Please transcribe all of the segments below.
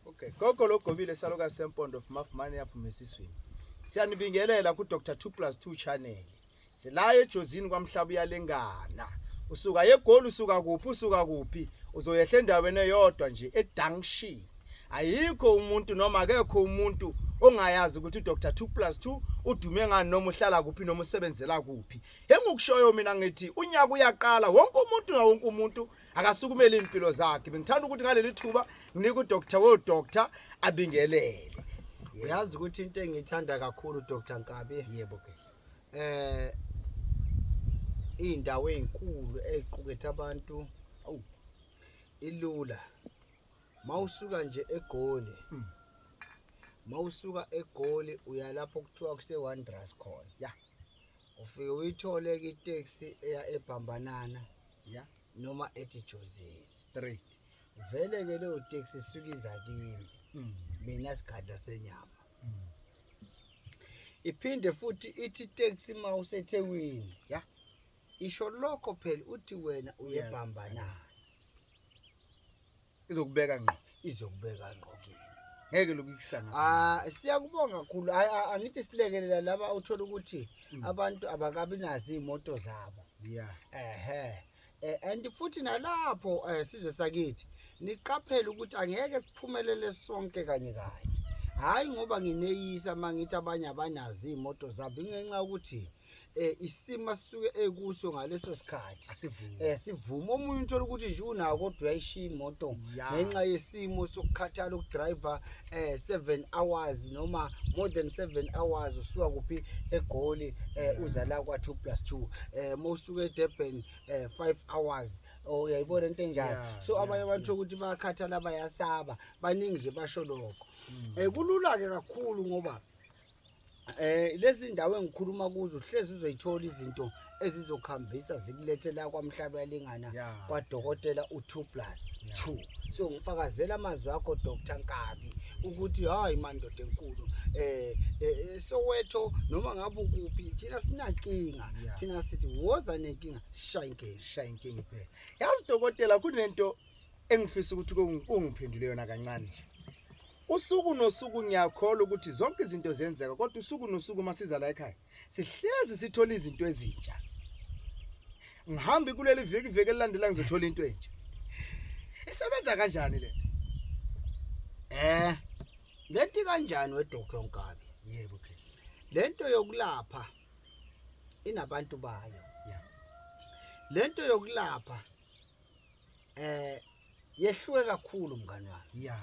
Okay, gogo logobile saluka sempondo of mafumane yaphume esiswini. Siyanibingelela ku Dr 2 plus 2 channel. Sila ejozini kwamhlaba uyalengana. Usuka yegoli usuka kuphi usuka kuphi uzoyehla endaweni eyodwa nje eDunction. Ayikho umuntu noma akekho umuntu ongayazi ukuthi uDr 2 plus 2 udume ngani noma uhlala kuphi noma usebenzela kuphi. Engikushoyo mina ngithi unyaka uyaqala wonke umuntu na wonke umuntu akasukumele impilo zakhe bengithanda ukuthi ngaleli thuba nginika udoctor wo doctor abingelele uyazi ukuthi into engiyithanda kakhulu Dr Nkabi yebo ke eh indawo ezinkulu eziqukethe abantu awu ilula mawusuka nje egoli hmm. mawusuka egoli uyalapho kuthiwa kuse Wanderers khona yeah ufike uyithole-ke iteksi eya ebhambanana ya noma ethi jozini straight vele-ke leyo teksi isuke iza kimi mm. mina sigadla senyama mm. iphinde futhi ithi iteksi uma usethekwini ya isho lokho phela uthi wena uyebhambanana izokubeka ngqo izokubeka ngqo kini ngeke lokhu ikusana ah siyakubonga kakhulu hayi angithi silekelela laba uthola ukuthi mm. abantu abakabi nazi imoto zabo yeah ehe eh, and futhi nalapho eh, sizwe sakithi niqaphele ukuthi angeke siphumelele sonke kanye kanye hayi ngoba ngineyisa mangithi abanye abanazi imoto zabo ingenxa ukuthi eh isimo asuke ekuso ngaleso sikhathi asivume eh sivume omunye uthola ukuthi nje unawo kodwa uyayishiya imoto ngenxa yesimo sokukhathala ukudriver eh 7 hours noma more than 7 hours usuka kuphi egoli eh uza la kwa 2 plus 2 eh mawusuka eDurban eh 5 hours oh, uyayibona into enjalo so abanye abantu ukuthi bayakhathala bayasaba baningi nje basho lokho mm. eh kulula ke kakhulu ngoba Eh lezi ndawo engikhuluma kuzo hlezi uzoyithola izinto ezizokhambisa zikulethe la kwamhlaba yalingana Yeah. kwadokotela u2 plus 2 so ngifakazela amazwi akho Dr Nkabi ukuthi hayi mandoda enkulu eh eh, eh, Soweto noma ngabe ukuphi thina sinankinga Yeah. thina sithi woza nenkinga shaya inkinga shaya inkinga iphela yazi dokotela kunento engifisa ukuthi kungi- ungiphendule yona kancane nje Usuku nosuku ngiyakholwa ukuthi zonke izinto ziyenzeka kodwa usuku nosuku uma siza la ekhaya sihlezi sithola izinto ezintsha. Ngihambi kuleli viki viki elilandela ngizothola into entsha. Isebenza kanjani le? Eh. Ngenti kanjani weDr Nkabi? Yebo ke. Lento yokulapha inabantu bayo. Lento yokulapha eh yehluke kakhulu mngani wami ya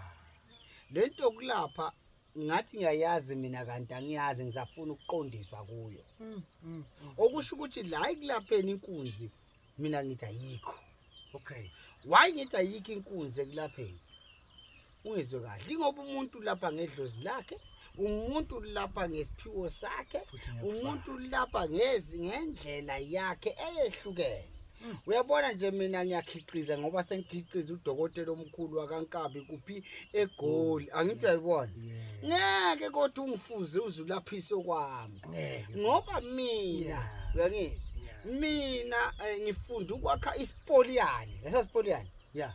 lento yokulapha ngathi ngiyayazi mina kanti angiyazi ngisafuna ukuqondiswa kuyo mm, mm, mm. okusho ukuthi la ikulapheni inkunzi mina ngithi ayikho okay why ngithi ayikho inkunzi ekulapheni ungizwe kahle ingoba umuntu lapha ngedlozi lakhe umuntu lapha ngesiphiwo sakhe umuntu lapha ngezi ngendlela yakhe eyehlukene hmm. uyabona nje mina ngiyakhiqiza ngoba sengikhiqiza udokotela omkhulu wakankabi kuphi egoli hmm. angithi uyayibona ngeke kodwa ungifuze uzulaphise okwami ngoba mina uyangizwa mina eh, ngifunda ukwakha isipoliyane esasipoliyane ya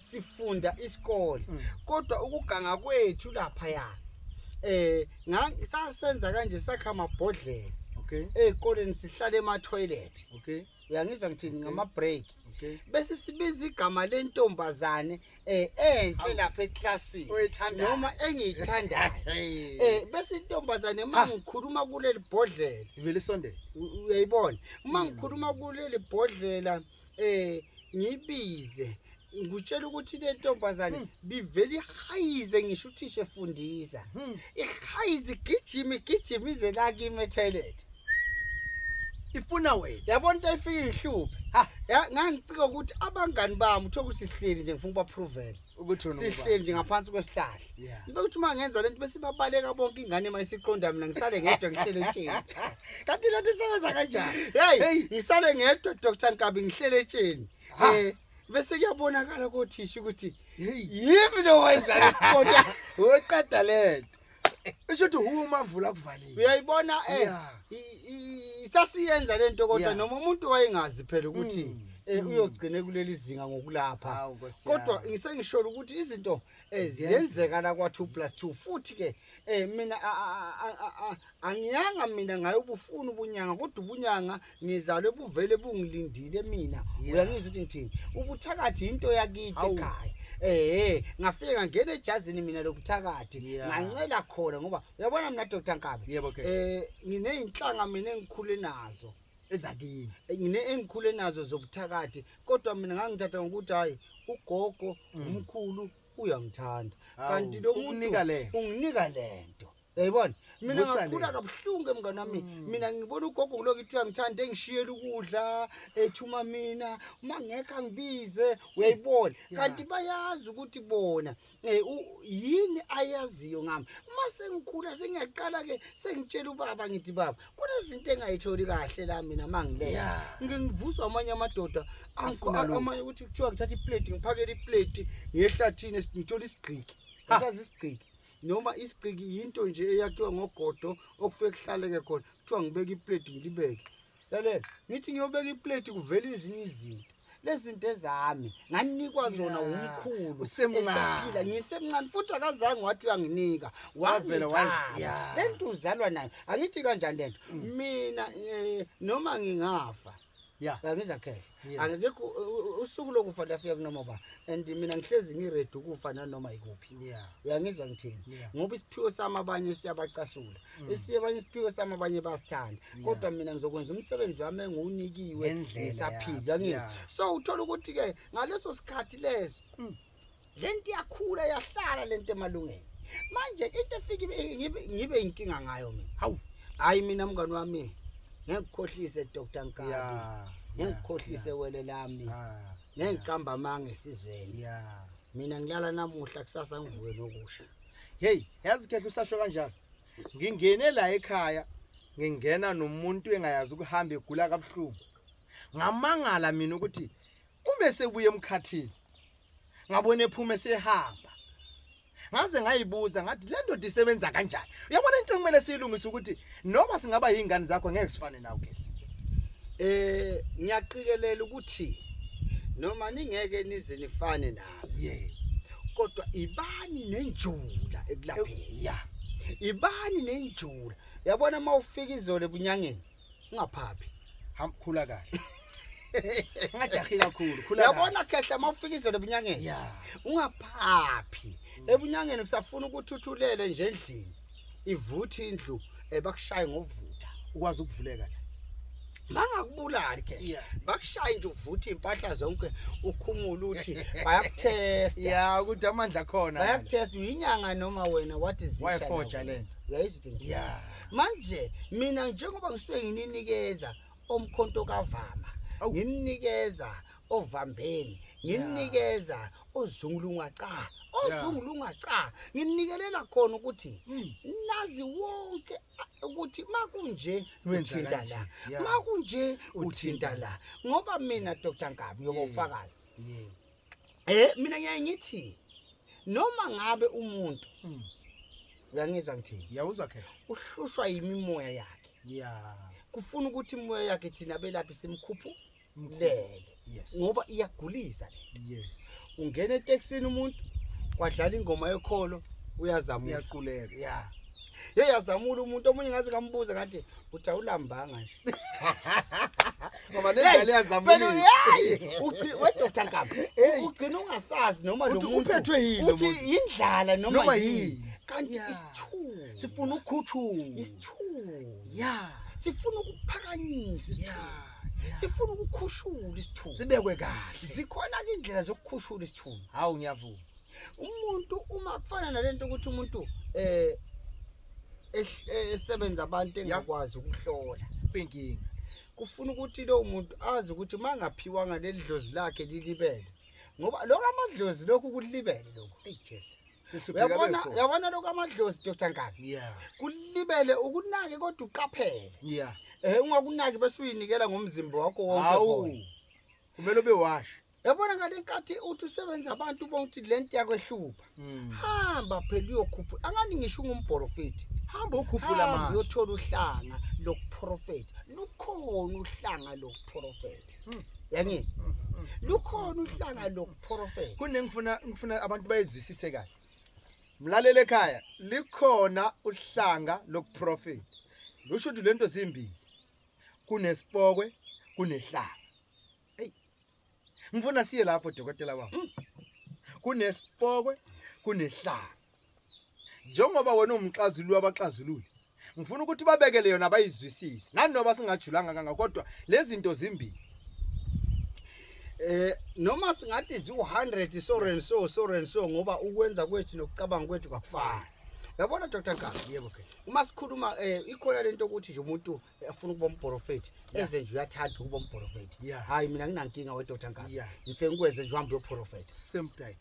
sifunda isikole mm. kodwa ukuganga kwethu lapha ya eh sasenza kanje sakha amabhodlela okay ezikoleni sihlale ema toilet okay uyangizwa ngithini ngama break okay bese sibiza igama lentombazane eh enhle lapha eclassini noma engiyithandayo eh bese intombazane mangikhuluma ah. kuleli bhodlela ivele isondela uyayibona mangikhuluma kuleli bhodlela eh ngibize ngutshela ukuthi le ntombazane hmm. bivele ihayize ngisho uthisha efundisa hmm. ihayize igijima igijima ize la kimi etoilet ifuna wena yabona into efika ihluphe ngangicika ukuthi abangani bami uthokuthi sihleli nje ngifuna ukubaphrovela sihleli nje ngaphansi kwesihlahla ngibe ukuthi uma ngenza lento bese babaleka bonke ingane uma isiqonda mina ngisale ngedwa ngihlele etsheni kanti lento isebenza kanjani hey ngisale ngedwa dr nkabi ngihlele etsheni um bese kuyabonakala kothisha ukuthi yimi nowenza lesiqonda weqeda lento Isho ukuthi huwe umavula kuvalile. Uyayibona eh Yeah. i- i- isasiyenza lento kodwa Yeah. noma umuntu wayengazi phela ukuthi Mm. eh, uyogcine kuleli zinga ngokulapha. Hawu, Nkosi Kodwa yami. ngisengisholo ukuthi izinto eh, Ziyenzeka. ziyenzeka la kwa 2 plus 2 futhi ke eh, mina a- a- a- a- a- angiyanga mina ngayo ubufuna ubunyanga kodwa ubunyanga ngizalwe buvele bungilindile mina uyangizwa ukuthi ngithini ubuthakathi into yakithi ekhaya eh ngafike ngangena ejazini mina lokuthakathi ngancela khona ngoba uyabona mina Dr Nkabi eh ngineyinhlanga mina engikhule nazo ezakini eh, ngine engikhule nazo zobuthakathi kodwa mina ngangithatha ngokuthi hayi ugogo mm. umkhulu uyangithanda kanti lo muntu unginika lento Yayibona? Mina Vusa le. ngakhula kabuhlungu emngane wami. Mina ngibona ugogo kuloko ithiwa ngithanda engishiyela ukudla, ethuma mina, uma ngekho angibize, uyayibona. Kanti bayazi ukuthi bona eh u- yini ayaziyo ngami. Uma sengikhula sengiyaqala ke sengitshela ubaba ngithi baba, kunezinto engayitholi kahle la mina uma ngileya. Yeah. Ngike ngivuswa amanye amadoda angikho Afuna lokhu. amanye ukuthi kuthiwa ngithatha iplate ngiphakele iplate ngiyehlathini ngithola isigqiki. Ngisazi isigqiki. noma isiqiki yinto nje eyakhiwa ngogodo okufike kuhlaleke khona kuthiwa ngibeka iplate ngilibeke lalela ngithi ngiyobeka iplate kuvela ezinye izinto lezinto ezami nganikwa zona umkhulu esaphila ngisemncane futhi akazange wathi uyanginika wavela wazia lento uzalwa nayo angithi kanjani lento mm. mina eh, noma ngingafa ya ngizwa khehla angekho usuku lokufa liyafika kunoma ba and mina ngihlezi ngiready ukufa nanoma ikuphi uyangizwa ngithini ngoba isiphiwo sami abanye siyabacasula mm. esiye abanye isiphiwo sami abanye basithanda kodwa mina ngizokwenza umsebenzi wami engiwunikiwe ngisaphila ngizwa so uthola ukuthi-ke ngaleso sikhathi leso mm. lento iyakhula yahlala lento emalungeni manje into efike ngibe ngibe inkinga ngayo mina hawu hayi mina mngani wami ngekukhohlise Dr Nkabi yeah ngengikhohlise yeah. wele lami ah, ngengiqamba yeah. amanga esizweni yeah. mina ngilala namuhla kusasa ngivuke nokusha hey yazi khehla usasho kanjalo ngingene la ekhaya ngingena nomuntu engayazi ukuhamba egula kabuhlungu ngamangala mina ukuthi Kume sebuye emkhathini. Ngabona ephuma esehamba. Ngaze ngayibuza ngathi le ndoda isebenza kanjani. Uyabona into ekumele siyilungise ukuthi noma singaba yingane zakho ngeke sifane nawe ke. Eh ngiyaqikelela ukuthi noma ningeke nize nifane nami. Yebo. Kodwa ibani nenjula ekulapheni. Yeah. Ibani nenjula. Yabona mawufika izolo ebunyangeni. ungaphaphi hamba khula kahle ungajahi kakhulu khula yabona khehla uma ufika izolo ebunyangeni ya ungaphaphi ebunyangeni kusafuna ukuthi uthulele nje endlini ivuthi indlu eh, bakushaye ngovutha ukwazi ukuvuleka la bangakubulali ke Yeah. bakushaye nje uvuthe impahla zonke ukhumula uthi bayakuthesta ya ukuthi amandla khona bayakuthesta uyinyanga noma wena what is this wayefoja lento uyayizwa ukuthi ngithini? Yeah. manje mina njengoba ngisuke ngininikeza omkhonto kavama ngininikeza ovambeni ngininikeza ozungulunga cha ozungulunga cha nginikelela khona ukuthi hmm. nazi wonke ukuthi makunje uthinta la makunje uthinta la ngoba mina Dr Nkabi yokufakaza eh mina ngiyaye ngithi noma ngabe umuntu mm. uyangizwa ngithini yawuzwa ke uhlushwa yimimoya yakhe ya kufuna ukuthi imoya yakhe thina belaphi simkhuphu mlele yes ngoba iyagulisa yes ungena etaxini umuntu kwadlala ingoma yekholo uyazama uyaquleka ya yeah. yeyazamula umuntu omunye ngaze ngambuza ngathi uthi awulambanga nje Ngoba nendlela yazamula. We Dr. Nkaba, ugcina ungasazi noma lo muntu uphethwe yini uthi indlala noma yini. Kanti isithuko. Sifuna ukhuthuma. Isithuko. Yeah. Sifuna ukuphakanyiswa isithuko. sifuna ukukhushula isithunzi sibekwe kahle zikhona ke indlela zokukhushula isithunzi hawu ngiyavuma umuntu uma kufana nalento ukuthi umuntu eh esebenza abantu engakwazi ukuhlola kwinkinga kufuna ukuthi lowo muntu azi ukuthi uma ngaphiwanga leli dlozi lakhe lilibele ngoba lokho amadlozi lokhu kulibele lokhu uyabona uyabona lokho amadlozi dr ngani kulibele ukunake kodwa uqaphele um ungakunaki bese uyinikela ngomzimba wakho wonke kumele ube washa yabona ngale nkathi uthi usebenza abantu ubona ukuthi le nto yakwehlupha Hmm. hamba phela uyokhupha angani ngisho ungumprofethi hamba ukhuphula hamba manje uyothola uhlanga lokuprofetha lukhona uhlanga lokuprofetha Hmm. yangizwa Mm, mm. lukhona uhlanga lokuprofetha kunengifuna ngifuna abantu bayizwisise kahle mlalele ekhaya likhona uhlanga lokuprofeta lusho ukuthi lento zimbili kunesipokwe kunehlanga eyi ngifuna siye lapho dokotela wam mm. kunesipokwe kunehlanga njengoba wena umxazulu wabaxazululi ngifuna ukuthi babekele yona bayizwisise nanoba singajulanga kanga kodwa lezinto zimbili eh noma singathi ziwu100 so and so so and so ngoba ukwenza kwethu nokucabanga kwethu kwakufana yabona Dr Nkazi yebo ke uma sikhuluma eh ikhona lento ukuthi nje umuntu afuna ukuba umprofethi eze nje uyathanda ukuba umprofethi hayi mina nginankinga wedoda ngani ngifike ngikwenze nje uhambe uyoprofetha same time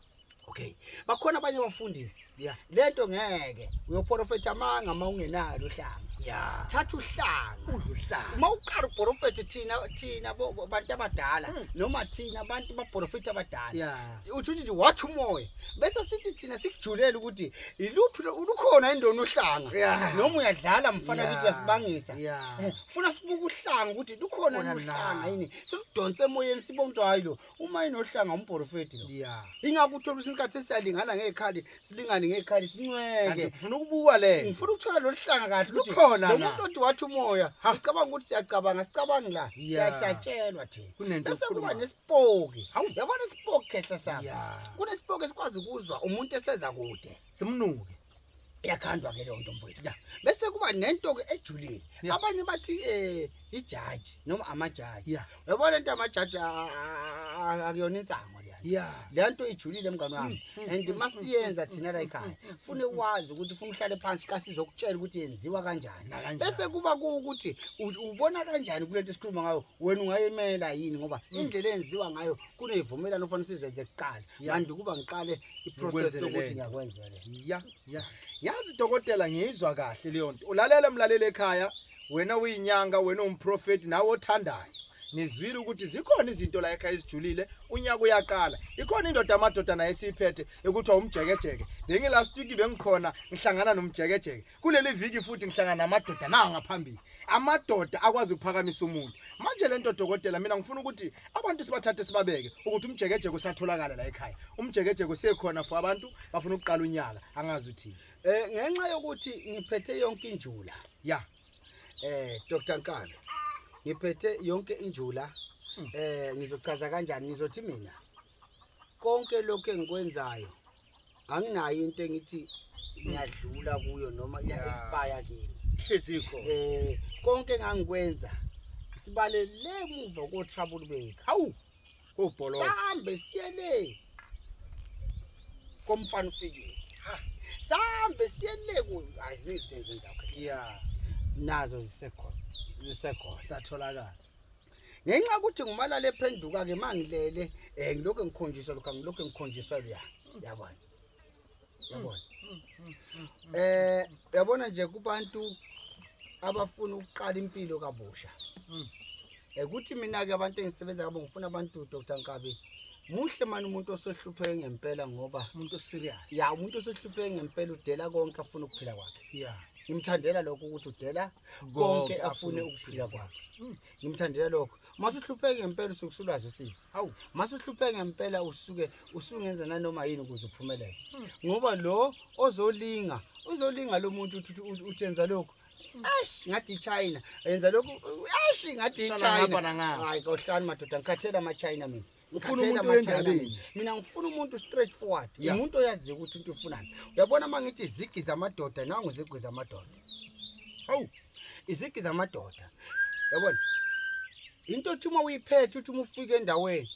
okay bakhona abanye abafundisi yeah lento ngeke uyoprofetha amanga uma ungenalo uhlanga yeah thatha uhlanga udla uhlanga uma uqala uprofetha thina thina bantu abadala hmm. noma thina abantu baprofetha abadala yeah uthi nje wathi umoya bese sithi thina sikujulele ukuthi iluphi lo- lukhona indona uhlanga Yeah. noma uyadlala mfana Yeah. kithi uyasibangisa Yeah. Eh, funa sibuke uhlanga ukuthi lukhona Khona yini uhlanga la. yini siludonse emoyeni sibone ukuthi hayi lo uma inohlanga umporofeti lo ya ingakho uthola ukuthi isikhathi esiyalingana ngekhali silingane ngekhali sincweke ngifuna ukubuka le ngifuna ukuthola lo hlanga kahle ukuthi khona lo muntu othi wathi umoya ngicabanga ukuthi siyacabanga sicabangi la siyatshelwa thina bese kuba nesipoki yabona isipoki khehla sami kunesipoki esikwazi ukuzwa umuntu eseza kude simnuke yakhandwa ke leyo nto mfowethu bese kuba nento ke ejulile abanye bathi eh ijaji noma amajaji yeah. yabo lento amajaji akuyona insango leya yeah. leya nto ijulile mngane wami mm, mm, and mm, masiyenza thina la ekhaya fune wazi ukuthi funa uhlale phansi kasizokutshela ukuthi yenziwa kanjani bese kuba kuwukuthi ubona kanjani kule nto esikhuluma ngayo wena ungayemela yini ngoba indlela eyenziwa ngayo kuneyivumelano ofanele sizenze kuqala kanti ukuba ngiqale iprocess yokuthi ngiyakwenzele ya ya yazi dokotela ngiyizwa kahle leyo nto ulalele mlaleli ekhaya wena uyinyanga wena umprofeti nawe othandayo nizwile ukuthi zikhona izinto la ekhaya ezijulile unyaka uyaqala ikhona indoda amadoda naye esiyiphethe ekuthiwa umjekejeke bengilast week bengikhona ngihlangana nomjekejeke kuleli viki futhi ngihlangana namadoda nawo ngaphambili amadoda akwazi ukuphakamisa umuntu manje le nto dokotela mina ngifuna ukuthi abantu sibathathe sibabeke ukuthi umjekejeke usatholakala la ekhaya umjekejeke usekhona for abantu bafuna ukuqala unyaka angazi uthini Eh ngenxa yokuthi ngiphethe yonke injula. Ya. Eh Dr Nkalo. Ngiphethe yonke injula. Hmm. Eh ngizochaza kanjani ngizothi mina konke lokho engikwenzayo anginayo into engithi ngiyadlula kuyo noma iya expire kimi. Hlezikho. Eh konke engangikwenza sibalele emuva ko trouble bake. Hawu. Ubholo. Sambe siyele. Komfana ufikile. Ha. Sambe siyele ku ayiziningi izinto ezenza okay. Yeah. Nazo zisekhona. Zisekhona. Satholakala. Ngenxa ukuthi ngumalala ephenduka ke mangilele eh ngilokho ngikhonjiswa lokho ngilokho ngikhonjiswa luya. Yabona. yabona mm, mm, mm, eh yabona nje kubantu abafuna ukuqala impilo kabusha ukuthi eh, mina ke abantu engisebenza kabo ngifuna abantu Dr Nkabi muhle mani umuntu osohlupheke ngempela ngoba umuntu serious ya umuntu osohlupheke ngempela udela konke afuna ukuphila kwakhe ya ngimthandela lokho ukuthi udela konke afune ukuphila kwakhe ngimthandela lokho mase uhlupheke ngempela usuke usulwazi usizi hawu mase uhlupheke ngempela usuke usungenza nanoma yini ukuze uphumelele hmm. ngoba lo ozolinga uzolinga lo muntu uthenza lokho ash ngathi ichina yenza lokhu ash ngathi ichina hayi kohlani madoda ngikhathela amachina mina ufuna umuntu wendabeni mina ngifuna umuntu straight forward umuntu oyaziyo ukuthi into ufunani uyabona uma ngithi izigi zamadoda nangu izigi zamadoda hawu izigi zamadoda yabona into othi uma uyiphethe uthi uma ufike endaweni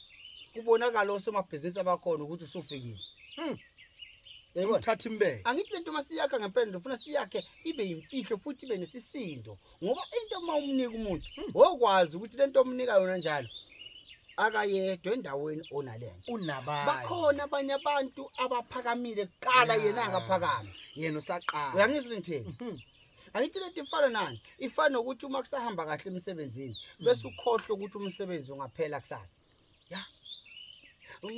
kubonakala osomabhizinisi abakhona ukuthi usufikile hmm. yayibona thatha imbeke angithi lento masiyakha ngempela ndofuna siyakhe ibe yimfihlo futhi ibe nesisindo ngoba into uma umnika umuntu wokwazi ukuthi lento omnika yona njalo akayedwa endaweni onalena unabanye bakhona abanye abantu abaphakamile kuqala Yeah. yena akaphakami yena usaqala uyangizwa ukuthi ngithini Mhm. angithi lento ifana nani ifana nokuthi uma kusahamba kahle emsebenzini bese ukhohlwa ukuthi umsebenzi ungaphela kusasa ya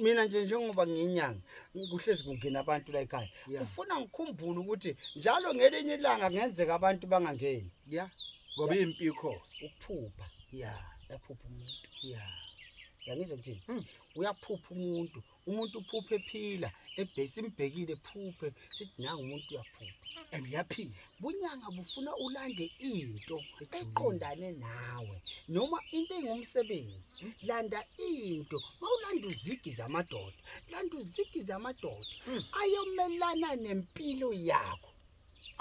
mina nje njengoba ngiyinyanga kuhlezi kungena abantu la ekhaya Yeah. ufuna ngikhumbule ukuthi njalo ngelinye ilanga kungenzeka abantu bangangeni ya ngoba impi ikhona ukuphupha ya yaphupha umuntu ya yangizwa kuthini Hmm. uyaphupha umuntu umuntu uphuphe ephila ebhesi imbhekile phuphe sithi nangu umuntu uyaphupha and uyaphila bunyanga bufuna ulande into eqondane nawe noma into engumsebenzi landa into mawulanda uzigi zamadoda landa uzigi zamadoda hmm. ayomelana nempilo yakho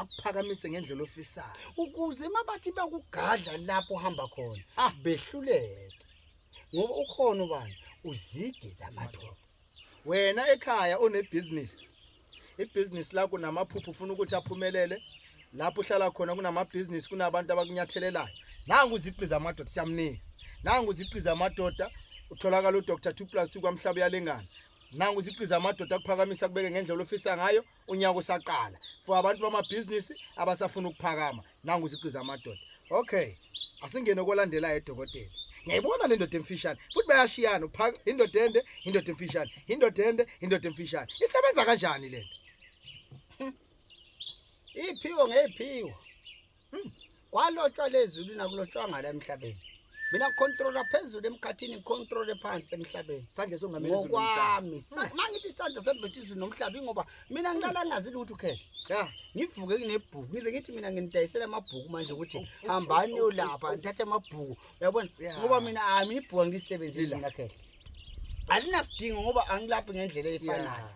akuphakamise ngendlela ofisayo ukuze mabathi bakugadla lapho uhamba khona ah. behluleke ngoba ukhona ubani uzigi zamadoda wena ekhaya onebhizinisi ibhizinisi lakho namaphupho ufuna ukuthi aphumelele lapho uhlala khona kunamabhizinisi kunabantu abakunyathelelayo nangu uziqi zamadoda siyamnika nangu uziqi zamadoda utholakala udr two plus two kwamhlaba uyalengana nangu uziqi zamadoda akuphakamisa kubeke ngendlela ofisa ngayo unyaka usaqala for abantu bamabhizinisi abasafuna ukuphakama nangu usiqiza amadoda okay asingene kolandelayo edokotela ngiyayibona le ndoda emfishane futhi bayashiyana uphaka indoda ende indoda emfishane indoda ende indoda emfishane isebenza kanjani le nto iphiwo ngeyiphiwo Hmm. Kwalotshwa lezulu nakulotshwanga la emhlabeni. Mina controller phezulu emkhathini ngicontrole phansi emhlabeni. Sandla songamela izulu. Ngokwami. Hmm. Mangithi isandla sembethe izulu nomhlaba ingoba mina ngiqala ngazi ukuthi ukhehla. Ya, ngivuke kunebhuku. Ngize ngithi mina nginidayisela amabhuku manje ukuthi oh, oh, hambani oh, ulapha ngithathe amabhuku. Uyabona? Ngoba mina hayi mina ibhuku angisebenzisi mina khehla. Alinasidingo ngoba angilaphi ngendlela efanayo.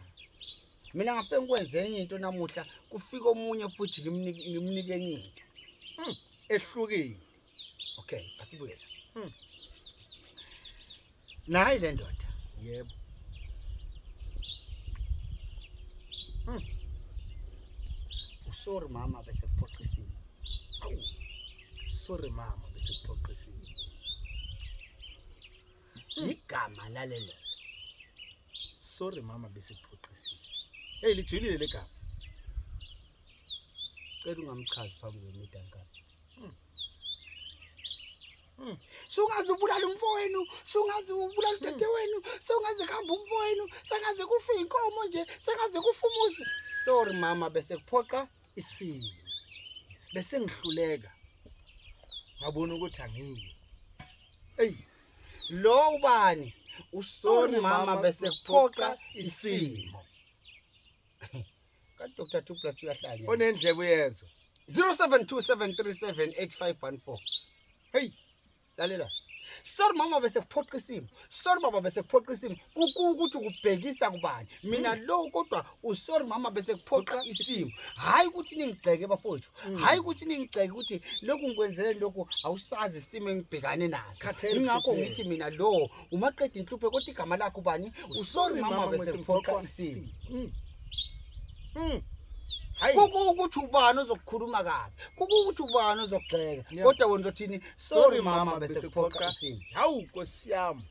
mina ngafike ngikwenze enye into namuhla kufika omunye futhi ngimnike enye into hmm, ehlukile okay asibuyela hmm. nayi le ndoda yebo hmm. usori mama bese kuphoqisile awu sorry mama bese kuphoqisile igama lalelo Sorry mama besikuphoxisile. Hey lijulile legama. Cela ungamchazi phambi kwemidankana. Hmm. Hmm. Sungaze ubulala umfowenu, sungaze ubulala hmm. udade wenu, sungaze kuhamba umfowenu, sengaze kufa inkomo nje, sengaze kufa umuzi. Sorry mama bese kuphoqa isimo. Bese ngihluleka. Ngabona ukuthi angiyi. Ey Lo ubani? Usori mama bese kuphoqa isimo. Ka Dr. 2 plus 2 yahlanya. Onendlebe uyezwa. 0727378514. Hey, lalela. Sorry mama bese kuphoqa isimo. Sorry baba bese kuphoqa isimo. Kuku ukuthi ukubhekisa kubani. Mina lo kodwa usorry mama bese kuphoqa isimo hayi ukuthi ningigxeke bafowethu mm. hayi ukuthi ningigxeke ukuthi lokhu ngikwenzele lokhu awusazi isimo engibhekane naso ingakho ngithi mina lo umaqeda inhluphe kodwa igama lakho bani usorry mama bese kuphoqa isimo mm. Mm. kuku ukuthi ubani ozokukhuluma kabi kuku ukuthi ubani ozokugxeka kodwa wena uzothini sorry mama bese kuphoqa isimo hawu nkosi yami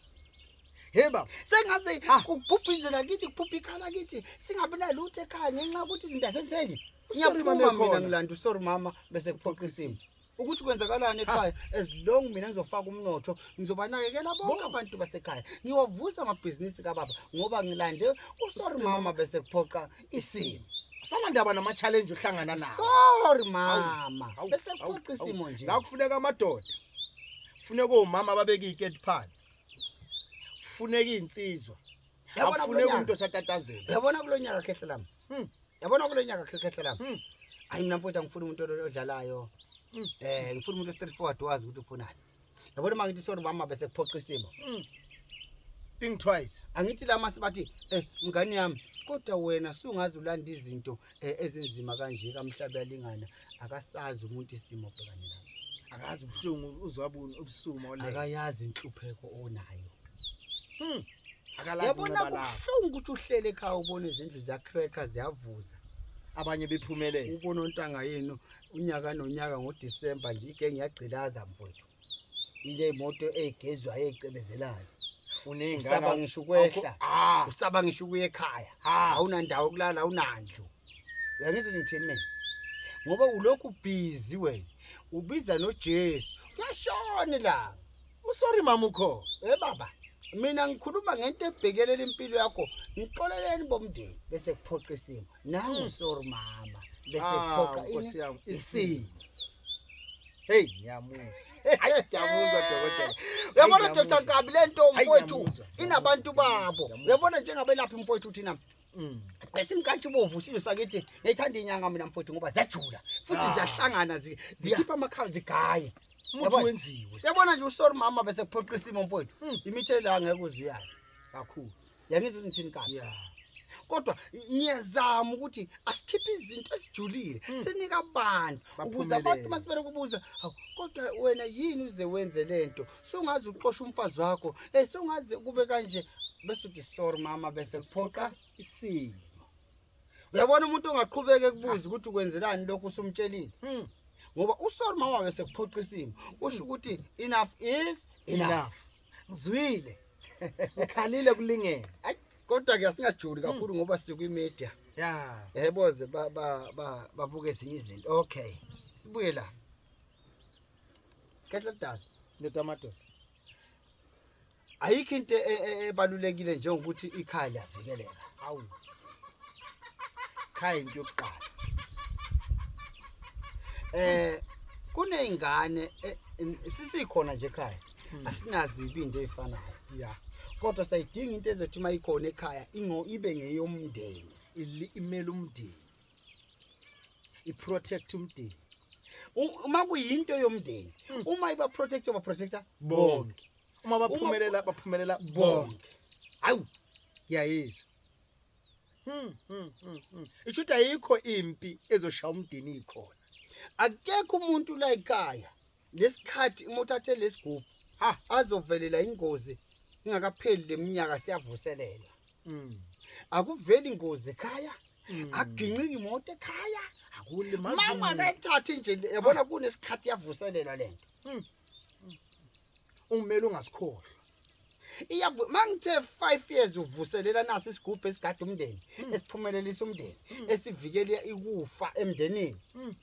Hey baba, sengaze ah. kuphupha izwe lakithi, kuphupha ikhaya lakithi, singabi nalutho ekhaya ngenxa yokuthi izinto asenzenye. Ngiyaphuma mina ngilanda uSorry mama bese kuphoqa isimo. ukuthi kwenzakalani ekhaya as long mina ngizofaka umnotho ngizobanakekela bonke abantu basekhaya ngiwavusa amabhizinisi kababa ngoba ngilande usorry mama bese kuphoqa isimo sanandaba nama-challenge uhlangana nawo sorry mama bese kuphoqa isimo nje ngakufuneka amadoda funeka omama babeke iy'keti phansi kufuneka izinsizwa akufuneka umuntu osatatazela uyabona kulonyaka khehle lami hmm. yabona kulonyaka khehle lami hmm. hayi mina mfowethu angifuni umuntu odlalayo hmm. eh ngifuna umuntu straight forward wazi ukuthi ufunani yabona uma ngithi sorry mama bese kuphoqa isimo think twice angithi lama sibathi eh mngani yami kodwa wena sungazi ulanda izinto eh, ezinzima kanje kamhlaba yalingana akasazi umuntu isimo obhekane naso akazi ubuhlungu uzwabuni ubusuma ole akayazi inhlupheko onayo hmm akalazi yabona kubuhlungu ukuthi uhlele ekhaya ubone izindlu ziya cracker ziyavuza abanye bephumelele ubona ontanga yenu unyaka nonyaka ngoDecember nje igenge yagqilaza mfowethu ile moto egezwayo ecebezelayo usaba ngisho ukwehla ah. usaba ngisho ukuya ekhaya ah. awunandawo kulala awunandlu uyangizwa ngithini mina ngoba ulokhu busy wena ubiza noJesu uyashona la usori mama ukho eh baba mina ngikhuluma ngento ebhekelela impilo yakho ngixoleleni bomndeni bese kuphoqa isimo nangu mm. sor mama bese ah, phoqa inkosi yami isini hey ngiyamuza hayi ngiyamuza dokotela uyabona dr nkabi le nto mfowethu inabantu babo uyabona njengabelaphi mfowethu thina mm. esimkantsha ubovu sizwe sakithi ngiyithanda inyanga mina mfowethu ngoba ziyajula futhi ah. ziyahlangana zikhipha amakhala zigaye umuntu wenziwe yabona nje usori mama bese kuphoqa isimo mfowethu hmm. imithela ngeke uzuyazi kakhulu yangizwa ukuthi ngithini kanti yeah kodwa ngiyazama ukuthi asikhiphe izinto esijulile hmm. sinika abantu ukuze abantu masibele kubuza kodwa wena yini uze wenze lento songazi uxosha umfazi wakho eh songazi kube kanje bese uthi sorry mama bese kuphoqa isimo uyabona umuntu ongaqhubeke kubuza ukuthi ukwenzelani lokho usumtshelile hmm. ngoba usori mama bese kuphoqa isimo usho ukuthi enough is enough ngizwile ngikhalile kulingene Ay, kodwa ke asingajuli kakhulu ngoba sikwi media ya yebo ze ba ba ba babuke ezinye izinto okay sibuye la kehla dala ndoda amadoda ayikho into e- e- ebalulekile njengokuthi ikhaya liyavikeleka awu khaya into yokuqala eh kunezingane eh, sisikhona nje ekhaya hmm. asinazibi into eyifanayo ya kodwa sayidinga into ezothi uma ikhona ekhaya ingo ibe ngeyomndeni imele umndeni iprotect umndeni uma kuyinto yomndeni hmm. uma iba protect oba protector bonke uma baphumelela baphumelela bonke hawu ngiyayizwa hmm, hmm, hmm, isho ukuthi ayikho impi ezoshaya umdini ikhona akekho umuntu la ekhaya ngesikhathi uma uthathe lesigubhu ha azovelela ingozi ingakapheli leminyaka siyavuselela Mm. akuveli ingozi ekhaya Mm. aginqiki imoto ekhaya Akulimazi mama umuntu. akayithathi nje le- yabona kunesikhathi yavuselelwa lento Ungimele ungasikhohlwa. iyavu mangithe 5 years uvuselela nasi isigubhu esigade umndeni esiphumelelisa umndeni esivikela ikufa emndenini Mm.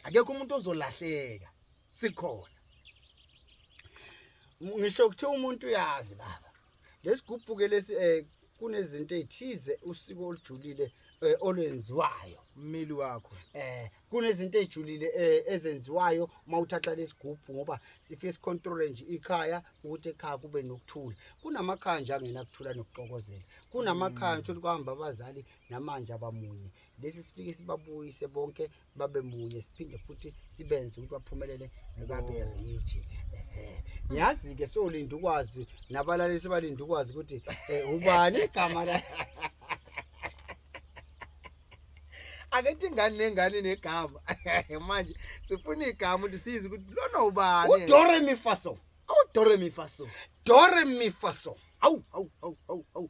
akekho umuntu ozolahleka sikhona ngisho kuthiwa umuntu uyazi baba lesigubhu ke lesi eh kunezinto ezithize usiko olujulile eh, olwenziwayo ummeli wakho eh kunezinto ezijulile eh, ezenziwayo uma uthatha lesigubhu ngoba sifike sicontrol nje ikhaya ukuthi ekhaya kube nokuthula kunamakhaya nje angena kuthula nokuxokozela kunamakhaya mm. ukuthi kuhamba abazali namanje abamunye lesi sifike sibabuyise bonke babe munye siphinde futhi sibenze ukuthi baphumelele babe rich ngiyazi ke solinda ukwazi nabalalisi balinda ukwazi ukuthi eh, ubani igama la akethi ingane nengane negama manje sifuna igama ukuthi siyize ukuthi lona ubani udore mifaso awudore mifaso dore mifaso awu awu awu awu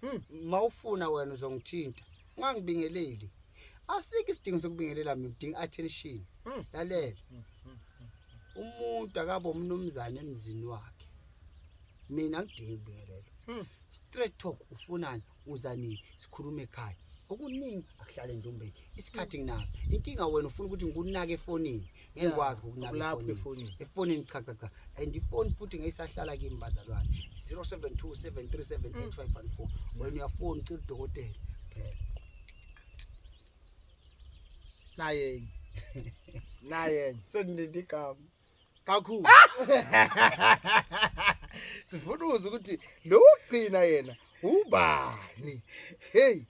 Hmm, mawufuna wena uzongithinta. Ungangibingeleli. Asike isidingo sokubingelela mina udinga attention. Hmm. Lalela. Hmm, hmm, hmm. Umuntu akabe umnumzane emzini wakhe. Mina ngidinga ukubingelela. Hmm. Straight talk ufunani? Uza nini? Sikhulume ekhaya. okuningi akuhlale ntombeni isikhathi nginaso inkinga wena ufuna ukuthi ngikunake efonini ngikwazi ukunaka efonini efonini cha cha cha and ifoni futhi ngeyisahlala kimi bazalwane 0727378514 wena uyafona ucela udokotela phela naye naye sendinde igama kakhulu sifuna uze ukuthi lo ugcina yena ubani hey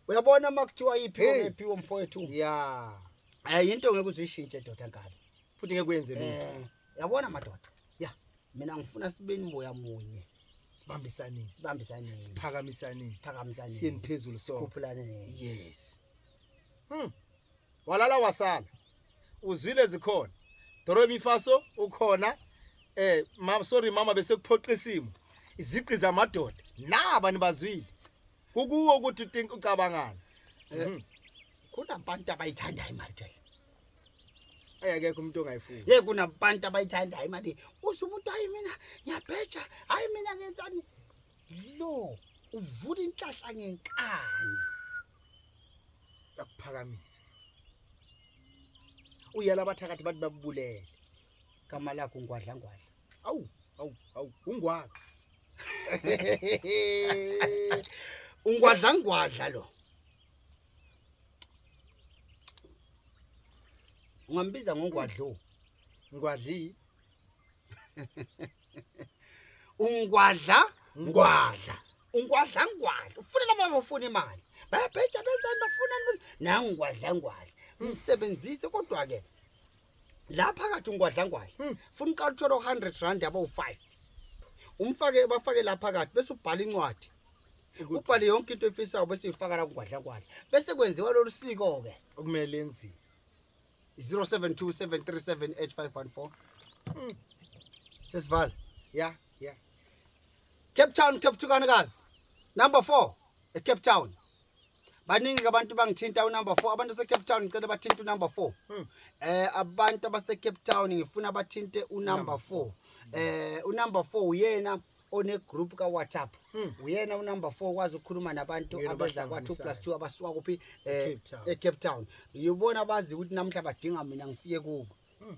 uyabona makuthiwa iphi ephi womfowethu yeah Eh into ngeke uzishintshe doda kabi. Futhi ngeke kuyenze lutho. Eh yabona madoda. Ya mina ngifuna sibeni moya munye. Sibambisane. Sibambisane. Siphakamisane. Siphakamisane. Siyeni phezulu so. Sikhuphulane ne. Yes. Hmm. Walala wasala. Uzwile zikhona. Doromi faso ukhona. Eh mama sorry mama bese kuphoqa isimo. Iziqi zamadoda. Naba nibazwile. Kukuwo ukuthi think ucabangani. Eh, mhm. Kuna abantu abayithanda imali ke. Ayakekho umuntu ongayifuni. Ye kuna abantu abayithanda imali. Uthi umuntu hayi mina ngiyabheja, hayi mina ngenzani? Lo uvula inhlahla ngenkani. Yakuphakamisa. Uyala abathakathi bathi bakubulele. Igama lakho ungwadla ngwadla. Awu, awu, awu, ungwax. Ungwadla ngwadla lo. Ungambiza ngongwadlo. Ngwadli. Ungwadla ngwadla. Ungwadla ngwadla. Ufuna laba bafuna imali. Bayabheja benzani bafuna nangwadla ngwadla. Msebenzise kodwa ke la phakathi ungwadlangwadla hmm. funa uqala uthole u-hundred rand yabo u-five umfake ubafake la phakathi bese ubhala incwadi ubhale yonke into efisayo bese uyifaka la kungwadlangwadla bese kwenziwa lolu siko-ke okumele enziwe 0727378514 hmm. sesivala ya ya cape town cape tukanikazi number four ecape town baningi abantu bangithinta unumber 4 abantu baseCape Town ngicela bathinte unumber 4 hmm. eh abantu abaseCape Town ngifuna bathinte unumber 4 eh unumber 4 uyena one group ka WhatsApp hmm. uyena unumber 4 kwazi ukukhuluma nabantu abeza kwa 2 plus 2 abasuka kuphi eh, e Cape Town uyibona bazi ukuthi namhla badinga mina ngifike kubo hmm.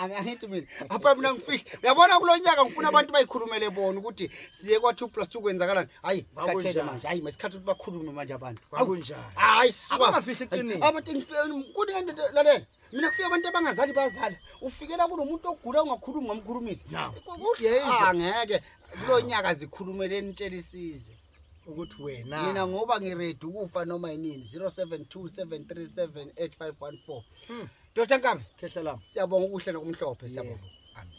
angithi mina apha mina ngifihla uyabona kulo nyaka ngifuna abantu bayikhulumele bona ukuthi siye kwa 2 plus 2 kwenzakalani hayi sikhathele manje hayi masikhathi ukuthi bakhulume manje abantu akunjani hayi abangafihli iqiniso abantu kuthi ngento lalela mina kufika abantu abangazali bazala ufikela kunomuntu ogula ungakhulumi ngamkhulumisi angeke kulo nyaka zikhulumele nitshela isizwe ukuthi wena mina ngoba ngiready ukufa noma yinini 0727378514 hmm. Dr Nkami khehla lami siyabonga ukuhle nokumhlophe siyabonga